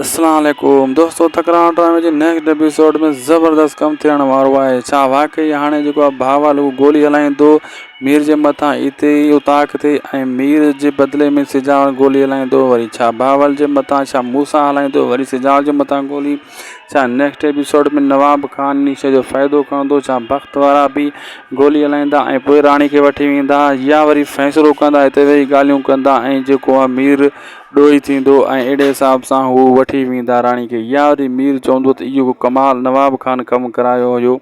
اسلام عليڪم دوستو تڪرار ڊرامي جي نيڪسٽ ايپيسوڊ ۾ زبردست ڪم ٿيڻ وارو آهي ڇا واقعي هاڻي جيڪو آهي ڀاوال هو گولي هلائيندو مير جي مٿان اتي ئي اتاق تي ۽ مير جي بدلي ۾ سجاوڙ گولي هلائيندو وري ڇا ڀاوال جي مٿان ڇا موسا هلائيندو وري سجاوڙ جي مٿان گولي ڇا نيڪسٽ ايپيسوڊ ۾ نواب خان انهي شئي جو فائدو کڻندو ڇا بخت وارا به گولي هلائيندا ۽ پوء راڻي کي وٺي ويندا يا وري فيصلو ڪندا اتي ويهي ڳالهيون ڪندا ۽ جيڪو آهي مير ڏوهي ٿيندو ۽ اهڙي حساب سان هو وٺي ويندا راڻي کي. يا وري مير چوندو ته اهو ڪمال نواب خان ڪم ڪرايو هيو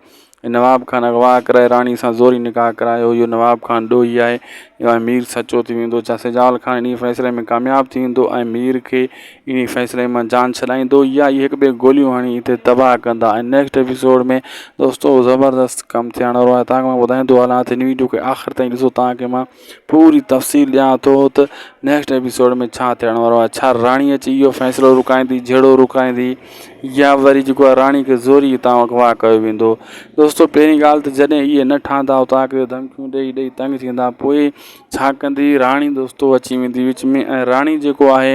۽ نواب خان اغوا ڪرائي راڻي سان زوري نڪاح ڪرايو هيو. نواب خان ڏوهي آهي ۽ مير سچو ٿي ويندو. ڇا سجال خان انهيء فيصلي ۾ ڪامياب ٿي ويندو ۽ مير کي انهيء فيصلي مان جان ڇڏائيندو يا اهي هڪ ٻئي گوليون هڻي هتي تباهه ڪندا ۽ نيڪسٽ ايپيسوڊ ۾ دوستو زبردست ڪم ٿيڻ وارو آهي توهان کي مان ٻڌائيندو هلان ته هن ويڊيو کي آخر تائين ڏسو توهان کي مان پوري تفصيل ڏيان ٿو ته نيڪسٽ ايپيسوڊ ۾ ڇا ٿيڻ وارو آهي ڇا راڻي اچي اهو فيصلو رڪائيندي جهيڙو رڪائيندي يا وري جيڪو آهي راڻي کي زوري هتان اغوا ڪيو ويندو دوستو پهرين ڳالهه ته جڏهن اهي نه ٺهندا اتان کي ڌمڪيون ڏيئي ڏيئي تنگ ٿيندا پوء ڇا ڪندي راڻي دوستو اچي ويندي وچ ۾ ۽ راڻي جيڪو آهي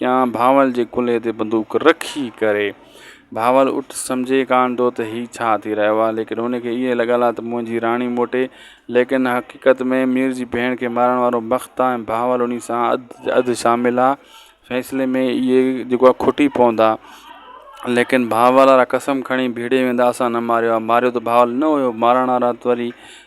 ڪيان ڀانول جي ڪلهي تي بندوق رکي ڪري. ڀانول اٺ سمجهي ڪانه ٿو ته هي ڇا ٿي رهيو آهي ليڪن هن کي اهي لڳل آهي ته منهنجي راڻي موٽي ليڪن حقيقت ۾ مير جي ڀيڻ کي مارڻ وارو بخت آهي ۽ ڀانول انهي سان اڌ شامل آهي فيصلي ۾ اهي جيڪو آهي کٽي پوندا ليڪن ڀانول وارا قسم کڻي ڀيڙي ويندا اسان نه ماريو آهي ماريو ته ڀانول نه هيو مارڻ وارا ته وري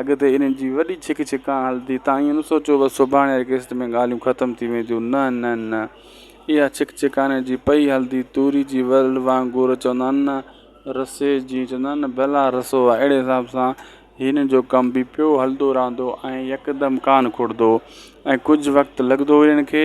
اڳتي انهن جي وڏي ڇڪ ڇڪان هلندي تان ائين نه سوچيو بس سڀاڻي قسط ۾ ڳالهيون ختم ٿي وينديون نه نه نه اها ڇڪ ڇڪاني جي پئي هلندي توري جي ورل وانگر چوندا آهن نه رسي جيئن چوندا آهن نه بلا رسو آهي اهڙي حساب سان هنن جو ڪم به پيو هلندو رهندو ۽ يڪدم ڪانه کڙندو ۽ ڪجهه وقت لڳندو هو هنن کي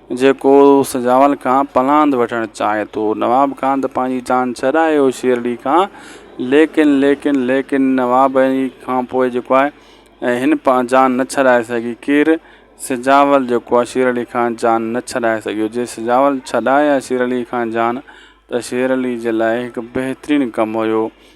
جيڪو سجاول کان پلاند وٺڻ چاهي ٿو. نواب کان ته پنهنجي جان ڇڏائي هو شيرڙي کان ليڪن ليڪن ليڪن نواب هي کان پوء جيڪو آهي ۽ هن پان جان نه ڇڏائي سگهي ڪير؟ سجاول جيڪو آهي شيرڙي کان جان نه ڇڏائي سگهيو جي سجاول ڇڏائي ها شيرڙي کان جان ته شيرڙي جي لاء هڪ بهترين ڪم هيو.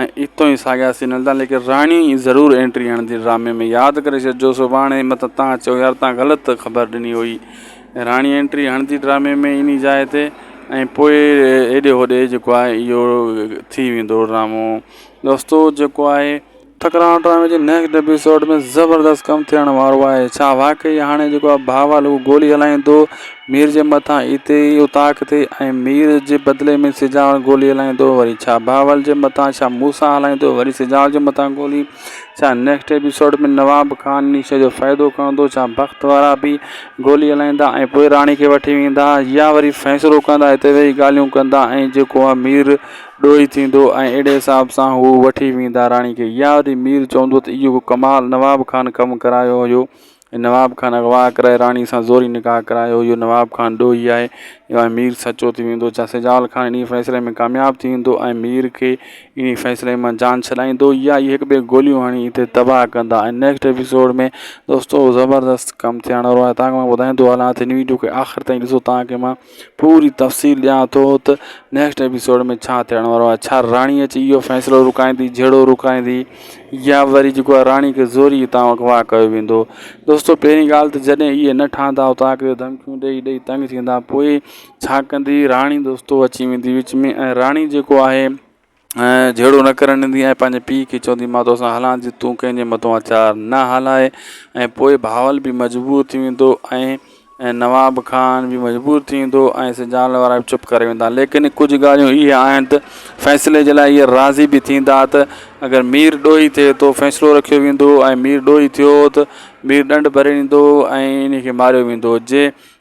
۽ اتو ئي ساڳيا سين هلندا ليڪن راڻي ئي ضرور اينٽري هڻندي ڊرامي ۾ ياد ڪري ڇڏجو سڀاڻي مت تان چئو يار تان غلط خبر ڏني هئي راڻي اينٽري هڻندي ڊرامي ۾ انهي جاء تي ۽ پوء هيڏي هوڏي جيڪو آهي اهو ٿي ويندو ڊرامو دوستو جيڪو آهي ٺڪراڻو ڊرامي جي نيڪسٽ ايپيسوڊ ۾ زبردست ڪم ٿيڻ وارو آهي ڇا واقعي هاڻي جيڪو آهي بهاول هو گولي هلائيندو مير جي مٿان اتي ئي اتاق ٿئي ۽ مير جي بدلي ۾ سجاوڙ گولي هلائيندو وري ڇا بهاول جي مٿان ڇا موسيٰ هلائيندو وري سجاوڙ جي مٿان گولي ڇا نيڪسٽ ايپيسوڊ ۾ نواب خان انهي شيء جو فائدو کڻندو ڇا بخت وارا به گولي هلائيندا ۽ پوء راڻي کي وٺي ويندا يا وري فيصلو ڪندا هتي ويهي ڳالهيون ڪندا ۽ جيڪو آهي مير ڏوهي ٿيندو ۽ اهڙي حساب سان هو وٺي ويندا راڻي کي يا وري مير چوندو ته اهو ڪمال نواب خان ڪم ڪرايو هيو نواب خان اغوا ڪرائي راڻي سان زوري نڪاح ڪرايو اهو نواب خان ڏوهي آهي ۽ مير سچو ٿي ويندو ڇا سجاول خان انهي فيصلي ۾ ڪامياب ٿي ويندو ۽ مير کي انهي فيصلي مان جان ڇڏائيندو يا اهي هڪ ٻئي کي گوليون هڻي هتي تباهه ڪندا ۽ نيڪسٽ ايپيسوڊ ۾ دوستو زبردست ڪم ٿيڻ وارو آهي تانکه مان ٻڌائيندو هلان ته هن ويڊيو کي آخر تائين ڏسو تانکه مان پوري تفصيل ڏيان ٿو ته نيڪسٽ ايپيسوڊ ۾ ڇا ٿيڻ وارو آهي ڇا راڻي اچي اهو فيصلو رڪائيندي جهيڙو رڪائيندي يا وري جيڪو آهي راڻي کي زوري هتان اغوا ڪيو ويندو دوستو پهرين ڳالهه ته جڏهن اهي نه ٺهندا هتان کي ڌمڪيون ڏيئي ڏيئي تنگ ٿيندا پوء ڇا ڪندي راڻي دوستو اچي ويندي وچ ۾ ۽ راڻي جيڪو آهي ۽ جهيڙو نه ڪرڻ ڏيندي ۽ پنهنجي پيء کي چوندي مان توسان هلان ٿي تون ڪنهن جي مٿو اچار نه هلائي ۽ پوء بهاول به مجبور ٿي ويندو ۽ نواب خان به مجبور ٿي ويندو ۽ سجاول وارا به چپ ڪري ويندا ليڪن ڪجهه ڳالهيون اهي آهن ته فيصلي جي لاء اهي راضي به ٿيندا ته اگر مير ڏوهي ٿئي ٿو فيصلو رکيو ويندو ۽ مير ڏوهي ٿيو ته مير ڏنڊ ڀري ڏيندو ۽ انهي کي ماريو ويندو جي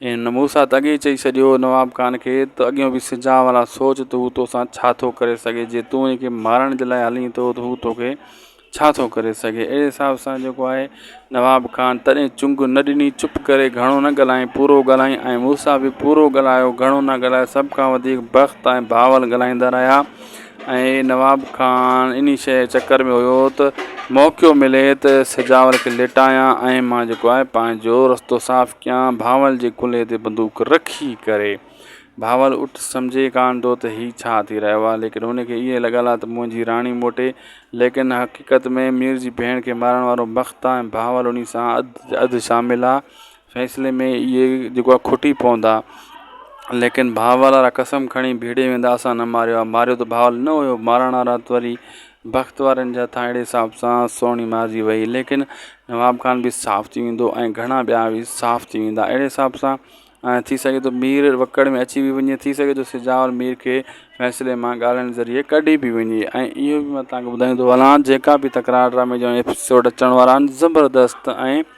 ان موسيٰ ته اڳي ئي چئي ڇڏيو نواب خان کي ته اڳيون به سجان واران سوچ ته هو توسان ڇا ٿو ڪري سگهي جي تون ان کي مارڻ جي لاء هلين ٿو ته هو توکي ڇا ٿو ڪري سگهي اهڙي حساب سان جيڪو آهي نواب خان تڏهن چنگ نه ڏني چپ ڪري گهڻو نه ڳالهائين پورو ڳالهائين ۽ موسيٰ به پورو ڳالهايو گهڻو نه ڳالهايو سڀ کان وڌيڪ بخت ۽ بهاول ڳالهائيندا رهيا ۽ نواب خان انهي شيء جي چڪر ۾ هيو ته موقعو ملي ته سجاول کي ليٽايان ۽ مان جيڪو آهي پنهنجو رستو صاف ڪيان بهاول جي ڪلهي تي بندوق رکي ڪري. بهاول اٺ سمجهي ڪانه ٿو ته هي ڇا ٿي رهيو آهي ليڪن هن کي اهي لڳل آهي ته منهنجي راڻي موٽي ليڪن حقيقت ۾ مير جي ڀيڻ کي مارڻ وارو بخت آهي ۽ بهاول انهي سان اڌ شامل آهي فيصلي ۾ اهي جيڪو آهي کٽي پوندا. ليڪن ڀاء والا را قسم کڻي ڀيڙي ويندا اسان نه ماريو آهي. ماريو ته ڀاء والن نه هيو. مارڻ وارا ته وري بخت وارن جي هٿان اهڙي حساب سان سهڻي مارجي ويئي. ليڪن نواب خان به صاف ٿي ويندو ۽ گهڻا ٻيا به صاف ٿي ويندا. اهڙي حساب سان ٿي سگهي ٿو مير وڪڙ ۾ اچي به وڃي. ٿي سگهي ٿو سجاول مير کي فيصلي مان ڳالهين ذريعي ڪڍي به وڃي. ۽ اهو به مان توهان کي ٻڌائيندو هلان جيڪا به تڪرار ڊرامي جا ايپيسوڊ اچڻ وارا آهن زبردست ۽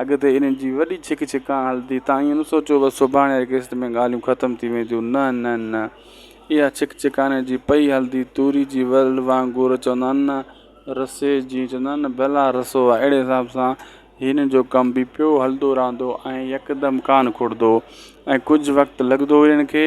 اڳتي انهن جي وڏي ڇڪ ڇڪان هلندي تان ائين نه سوچيو بس سڀاڻي جي قسط ۾ ڳالهيون ختم ٿي وينديون نه نه نه اها ڇڪ ڇڪاني جي پئي هلندي توري جي ورل وانگر چوندا آهن نه رسي جي چوندا آهن نه بلا رسو آهي اهڙي حساب سان هنن جو ڪم به پيو هلندو رهندو ۽ يڪدم ڪانه کڙندو ۽ ڪجهه وقت لڳندو هو هنن کي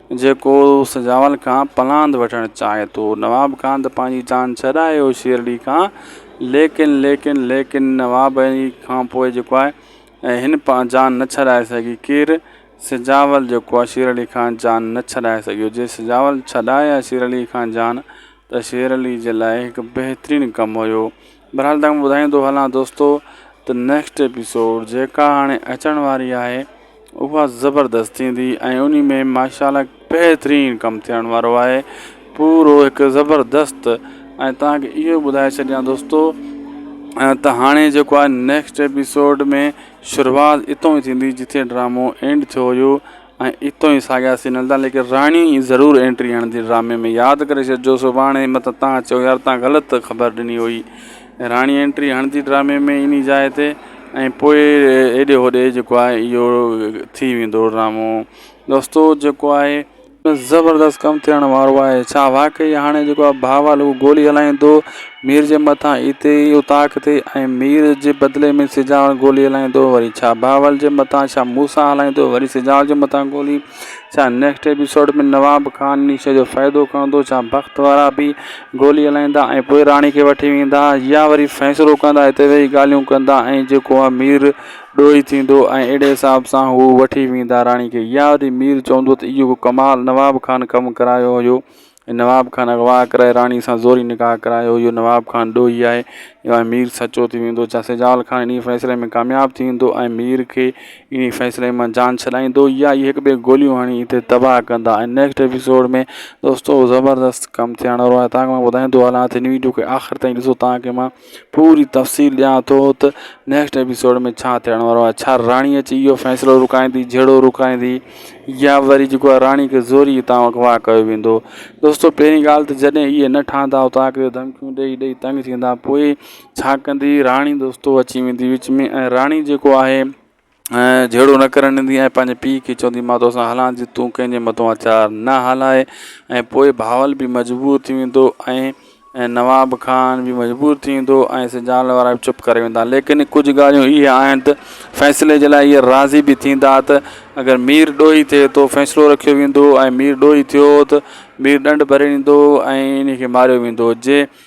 جيڪو سجاول کان پلاند وٺڻ چاهي ٿو. نواب کان ته پنهنجي جان ڇڏائي هو شيرڙي کان ليڪن ليڪن ليڪن نواب اي کان پوء جيڪو آهي ۽ هن پان جان نه ڇڏائي سگهي ڪير؟ سجاول جيڪو آهي شيرڙي کان جان نه ڇڏائي سگهيو جي سجاول ڇڏائي ها شيرڙي کان جان ته شيرڙي جي لاء هڪ بهترين ڪم هيو بھرحال تھاکان ٻڌائيندو ھلان دوستو ته نيڪسٽ ايپيسوڊ جيڪا ھاڻي اچڻ واري آھي اھا زبردست ٿيندي ۽ انھي ۾ ماشاءالله بهترين ڪم ٿيڻ وارو آھي پورو ھڪ زبردست ۽ تھانکي اھو ٻڌائي ڇڏيان دوستو ته ھاڻي جيڪو آھي نيڪسٽ ايپيسوڊ ۾ شروعات اتو ٿيندي جتي ڊرامو اينڊ ٿيو ھيو ۽ اتو ئي ساڳيا سين هلندا ليڪن راڻي ئي ضرور اينٽري هڻندي ڊرامي ۾ ياد ڪري ڇڏجو سڀاڻي مت تان چئو يار تان غلط خبر ڏني هئي راڻي اينٽري هڻندي ڊرامي ۾ انهي جاء تي ۽ پوء هيڏي هوڏي جيڪو آهي اهو ٿي ويندو ڊرامو دوستو جيڪو آهي زبردست ڪم ٿيڻ وارو آهي ڇا واقعي هاڻي جيڪو آهي ڀاوال هو گولي هلائيندو مير جي مٿان اتي ئي اتاق ٿئي ۽ مير جي بدلي ۾ سجاوڙ گولي هلائيندو وري ڇا بهاول جي مٿان ڇا موسيٰ هلائيندو وري سجاوڙ جي مٿان گولي ڇا نيڪسٽ ايپيسوڊ ۾ نواب خان ان شيء جو فائدو کڻندو ڇا بخت وارا به گولي هلائيندا ۽ پوء راڻي کي وٺي ويندا يا وري فيصلو ڪندا اتي ويهي ڳالهيون ڪندا ۽ جيڪو هو مير ڏوهي ٿيندو ۽ اهڙي حساب سان هو وٺي ويندا راڻي کي يا وري مير چوندو ته اهو ڪمال نواب خان ڪم ڪرايو هيو نواب خان اغوا ڪرائي راڻي سان زوري نڪاح ڪرايو اهو نواب خان ڏوهي آهي ۽ مير سچو ٿي ويندو ڇا سجاول خان انهي فيصلي ۾ ڪامياب ٿي ويندو ۽ مير کي انهي فيصلي مان جان ڇڏائيندو يا اهي هڪ ٻئي کي گوليون هڻي هتي تباهه ڪندا ۽ نيڪسٽ ايپيسوڊ ۾ دوستو زبردست ڪم ٿيڻ وارو آهي تانکه مان ٻڌائيندو هلان ته هن ويڊيو کي آخر تائين ڏسو تانکه مان پوري تفصيل ڏيان ٿو ته نيڪسٽ ايپيسوڊ ۾ ڇا ٿيڻ وارو آهي ڇا راڻي اچي اهو فيصلو رڪائيندي جهيڙو رڪائيندي يا وري جيڪو آهي راڻي کي زوري هتان اغوا ڪيو ويندو دوستو پهرين ڳالهه ته جڏهن اهي نه ٺهندا اتان کي ڌمڪيون ڏيئي ڏيئي تنگ ٿيندا پوء ڇا ڪندي راڻي دوستو اچي ويندي وچ ۾ ۽ راڻي جيڪو آهي ۽ جهيڙو نه ڪرڻ ڏيندي ۽ پنهنجي پيء کي چوندي مان توسان هلان ٿي تون ڪنهن جي مٿو اچار نه هلائي ۽ پوء بهاول به مجبور ٿي ويندو ۽ نواب خان به مجبور ٿي ويندو ۽ سجال وارا به چپ ڪري ويندا ليڪن ڪجهه ڳالهيون اهي آهن ته فيصلي جي لاء اهي راضي به ٿيندا ته اگر مير ڏوهي ٿئي ٿو فيصلو رکيو ويندو ۽ مير ڏوهي ٿيو ته مير ڏنڊ ڀري ڏيندو ۽ انهي کي ماريو ويندو جي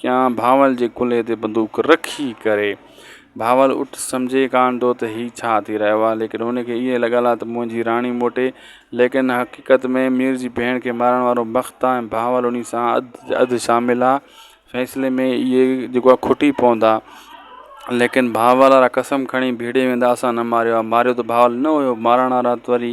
ڪيان ڀانول جي ڪلهي تي بندوق رکي ڪري. ڀانول اٺ سمجهي ڪانه ٿو ته هي ڇا ٿي رهيو آهي ليڪن هن کي اهي لڳل آهي ته منهنجي راڻي موٽي ليڪن حقيقت ۾ مير جي ڀيڻ کي مارڻ وارو بخت آهي ۽ ڀانول انهي سان اڌ شامل آهي فيصلي ۾ اهي جيڪو آهي کٽي پوندا ليڪن ڀانول وارا قسم کڻي ڀيڙي ويندا اسان نه ماريو آهي ماريو ته ڀانول نه هيو مارڻ وارا ته وري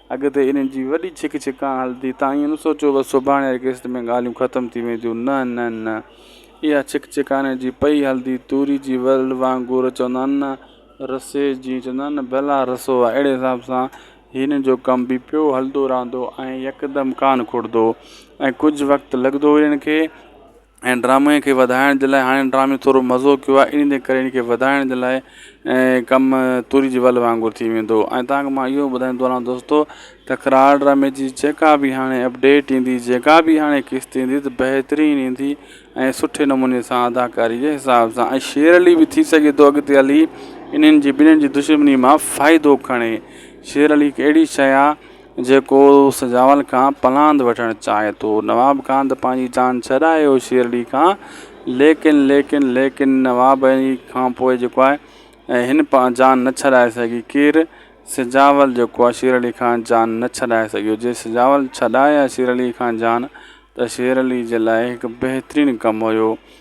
اڳتي انهن جي وڏي ڇڪ ڇڪان هلندي تان ائين نه سوچيو بس سڀاڻي جي قسط ۾ ڳالهيون ختم ٿي وينديون نه نه نه اها ڇڪ ڇڪاني جي پئي هلندي توري جي ورل وانگر چوندا آهن نه رسي جي چوندا آهن نه بلا رسو آهي اهڙي حساب سان هنن جو ڪم به پيو هلندو رهندو ۽ يڪدم ڪانه کڙندو ۽ ڪجهه وقت لڳندو هو هنن کي ۽ ڊرامي کي وڌائڻ جي لاء هاڻي ڊرامي ٿورو مزو ڪيو آهي ان جي ڪري ان کي وڌائڻ جي لاء ۽ ڪم توري جي ول وانگر ٿي ويندو ۽ تانکه مان اهو ٻڌائي ٿو هلان دوستو تڪرار ڊرامي جي جيڪا بي هاڻي اپڊيٽ ايندي جيڪا بي هاڻي قسط ايندي ته بهترين ايندي ۽ سٺي نموني سان اداڪاري جي حساب سان ۽ شيئر علي به ٿي سگهي ٿو اڳتي هلي انهن جي ٻنهي جي دشمني مان فائدو کڻي شيئر علي هڪ اهڙي شيء آهي جيڪو سجاول کان پلاند وٺڻ چاهي ٿو. نواب کان ته پنهنجي جان ڇڏائي هو شيرڙي کان ليڪن ليڪن ليڪن نواب هي کانپوء جيڪو آهي هن جان نه ڇڏائي سگهي ڪير؟ سجاول جيڪو آهي شيرڙي کان جان نه ڇڏائي سگهيو. جي سجاول ڇڏائي ها شيرڙي کان جان ته شيرڙي جي لاء هڪ بهترين ڪم هيو.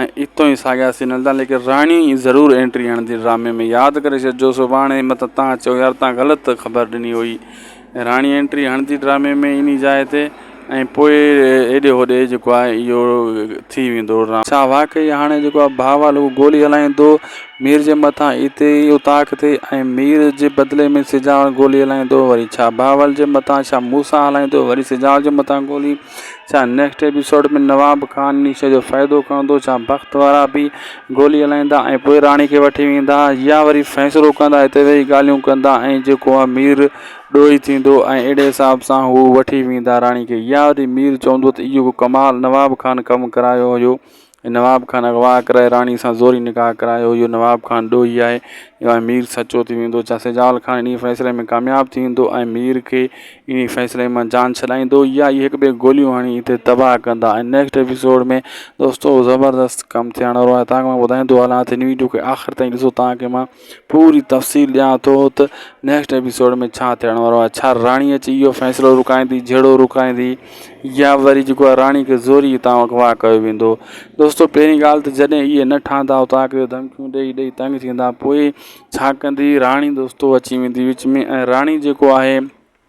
۽ اتو ئي ساڳيا سين هلندا ليڪن راڻي ئي ضرور اينٽري هڻندي ڊرامي ۾ ياد ڪري ڇڏجو سڀاڻي مت تان چئو يار تان غلط خبر ڏني هئي راڻي اينٽري هڻندي ڊرامي ۾ انهي جاء تي ۽ پوء هيڏي هوڏي جيڪو آهي اهو ٿي ويندو ڊرامو. ڇا واقعي هاڻي جيڪو آهي بهاول اهو گولي هلائيندو مير جي مٿان اتي ئي اتاق تي ۽ مير جي بدلي ۾ سجاول گولي هلائيندو وري ڇا بهاول جي مٿان ڇا موسيٰ هلائيندو وري سجاول جي مٿان گولي ڇا نيڪسٽ ايپيسوڊ ۾ نواب خان نيشي جو فائدو کڻندو ڇا بخت وارا به گولي هلائيندا ۽ پوء راڻي کي وٺي ويندا يا وري فيصلو ڪندا هتي ويهي ڳالهيون ڪندا ۽ جيڪو امير ڏوهي ٿيندو ۽ اهڙي حساب سان هو وٺي ويندا راڻي کي يا وري مير چوندو ته اهو ڪمال نواب خان ڪم ڪرايو هيو نواب خان اغوا ڪرائي راڻي سان زوري نڪاح ڪرايو اهو نواب خان ڏوهي آهي ۽ مير سچو ٿي ويندو ڇا سجال خان انهي فيصلي ۾ ڪامياب ٿي ويندو ۽ مير کي انهي فيصلي مان جان ڇڏائيندو يا اهي هڪ ٻئي کي گوليون هڻي هتي تباهه ڪندا ۽ نيڪسٽ ايپيسوڊ ۾ دوستو زبردست ڪم ٿيڻ وارو آهي تانکه مان ٻڌائيندو هلان ته هن ويڊيو کي آخر تائين ڏسو تانکه مان پوري تفصيل ڏيان ٿو ته نيڪسٽ ايپيسوڊ ۾ ڇا ٿيڻ وارو آهي ڇا راڻي اچي اهو فيصلو رڪائيندي جهيڙو رڪائيندي يا وري جيڪو آهي راڻي کي زوري هتان اغوا ڪيو ويندو دوستو پهرين ڳالهه ته جڏهن اهي نه ٺهندا اتان کي ڌمڪيون ڏيئي ڏيئي تنگ ٿيندا پوء ڇا ڪندي راڻي دوستو اچي ويندي وچ ۾ ۽ راڻي جيڪو آهي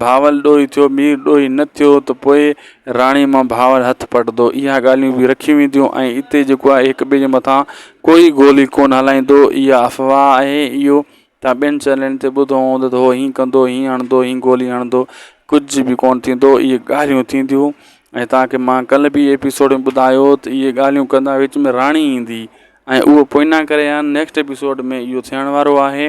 ڀانول ڏوهي ٿيو مير ڏوهي نه ٿيو ته پوء راڻي مان ڀانول هٿ پٽندو اها ڳالهيون به رکيون وينديون ۽ اتي جيڪو آهي هڪ ٻئي جي مٿان ڪوئي گولي ڪونه هلائيندو اها افواهه آهي اهو تان ٻين چئنلن تي ٻڌو هوندو ته هو هيئن ڪندو هيئن هڻندو هيئن گولي هڻندو ڪجهه به ڪونه ٿيندو اهي ڳالهيون ٿينديون ۽ تانکي مان ڪل به ايپيسوڊ ۾ ٻڌايو ته اهي ڳالهيون ڪندا وچ ۾ راڻي ايندي ۽ اهو پوئنا ڪري ها نيڪسٽ ايپيسوڊ ۾ اهو ٿيڻ وارو آهي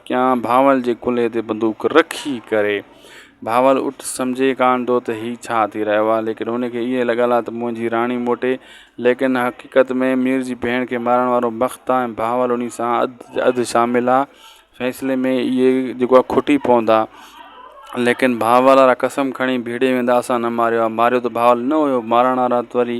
ڪيان ڀانول جي ڪلهي تي بندوق رکي ڪري. ڀانول اٺ سمجهي ڪانه ٿو ته هي ڇا ٿي رهيو آهي ليڪن هن کي اهي لڳل آهي ته منهنجي راڻي موٽي ليڪن حقيقت ۾ مير جي ڀيڻ کي مارڻ وارو بخت آهي ۽ ڀانول انهي سان اڌ شامل آهي فيصلي ۾ اهي جيڪو آهي کٽي پوندا ليڪن ڀانول وارا قسم کڻي ڀيڙي ويندا اسان نه ماريو آهي ماريو ته ڀانول نه هيو مارڻ وارا ته وري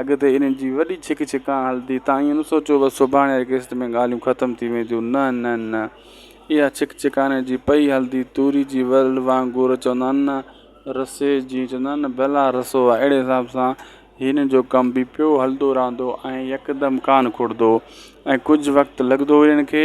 اڳتي انهن جي وڏي ڇڪ ڇڪان هلندي تان ائين نه سوچيو بس سڀاڻي قسط ۾ ڳالهيون ختم ٿي وينديون نه نه نه اها ڇڪ ڇڪاني جي پئي هلندي توري جي ورل وانگر چوندا آهن نه رسي جيئن چوندا آهن نه بلا رسو آهي اهڙي حساب سان هنن جو ڪم به پيو هلندو رهندو ۽ يڪدم ڪانه کڙندو ۽ ڪجهه وقت لڳندو هو هنن کي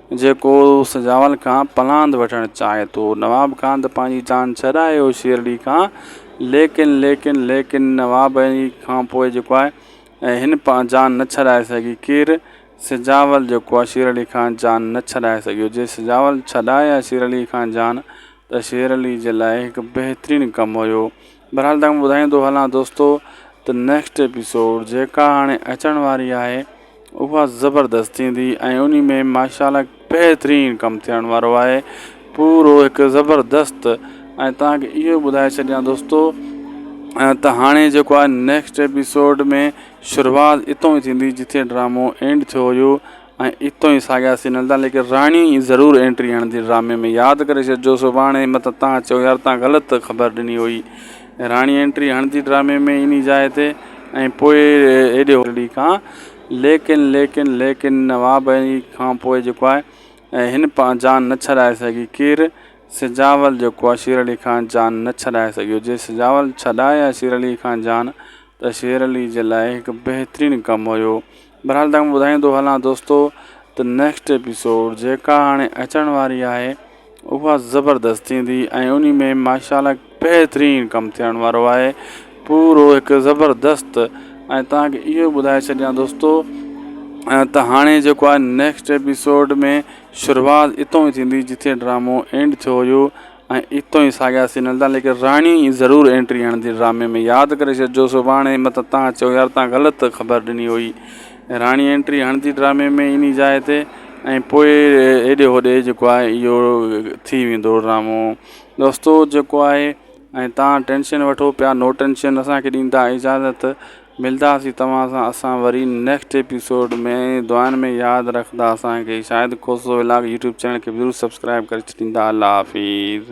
جيڪو سجاول کان پلاند وٺڻ چاهي ٿو. نواب کان ته پنهنجي جان ڇڏائي هو شيرڙي کان ليڪن ليڪن ليڪن نواب هي کان پوء جيڪو آهي ۽ هن پان جان نه ڇڏائي سگهي ڪير؟ سجاول جيڪو آهي شيرڙي کان جان نه ڇڏائي سگهيو جي سجاول ڇڏائي ها شيرڙي کان جان ته شيرڙي جي لاء هڪ بهترين ڪم هيو. بھرحال تھاکو ٻڌائيندو ھلان دوستو ته نيڪسٽ ايپيسوڊ جيڪا ھاڻي اچڻ واري آھي اھا زبردست ٿيندي ۽ انھي ۾ ماشاءالله بهترين ڪم ٿيڻ وارو آھي پورو ھڪ زبردست ۽ تھانکي اھو ٻڌائي ڇڏيان دوستو ته ھاڻي جيڪو آھي نيڪسٽ ايپيسوڊ ۾ شروعات اتو ٿيندي جتي ڊرامو اينڊ ٿيو ھيو ۽ اتو ئي ساڳيا سين هلندا ليڪن راڻي ئي ضرور اينٽري هڻندي ڊرامي ۾ ياد ڪري ڇڏجو سڀاڻي متان تان چئو يار تان غلط خبر ڏني هئي راڻي اينٽري هڻندي ڊرامي ۾ انهي جاء تي ۽ پوء ايڏي هولڙي کان ليڪن ليڪن ليڪن نواب علي کان پوء جيڪو آهي هن پان جان نه ڇڏائي سگهي ڪير سجاول جيڪو آهي شير علي کان جان نه ڇڏائي سگهيو جي سجاول ڇڏائي آهي شير علي کان جان ته شير علي جي لاء هڪ بهترين ڪم هيو بھرحال تھاکان ٻڌائيندو ھلان دوستو ته نيڪسٽ ايپيسوڊ جيڪا ھاڻي اچڻ واري آھي اھا زبردست ٿيندي ۽ انھي ۾ ماشاءالله بهترين ڪم ٿيڻ وارو آھي پورو ھڪ زبردست ۽ تھانکي اھو ٻڌائي ڇڏيان دوستو ته ھاڻي جيڪو آھي نيڪسٽ ايپيسوڊ ۾ شروعات اتو ٿيندي جتي ڊرامو اينڊ ٿيو ھيو ۽ اتو ئي ساڳيا سين هلندا ليڪن راڻي ئي ضرور اينٽري هڻندي ڊرامي ۾ ياد ڪري ڇڏجو سڀاڻي مت تان چئو يار تان غلط خبر ڏني هئي راڻي اينٽري هڻندي ڊرامي ۾ انهي جاء تي ۽ پوء هيڏي هوڏي جيڪو آهي اهو ٿي ويندو ڊرامو دوستو جيڪو آهي ۽ تان ٽينشن وٺو پيا نو ٽينشن اسانکي ڏيندا اجازت ملداسين توهان سان اسان وري نيڪسٽ ايپيسوڊ ۾ ۽ دعائن ۾ ياد رکندا اسان کي Shahid Khoso vlog YouTube channel کي به ضرور سبسڪرائب ڪري ڇڏيندا الله حافظ.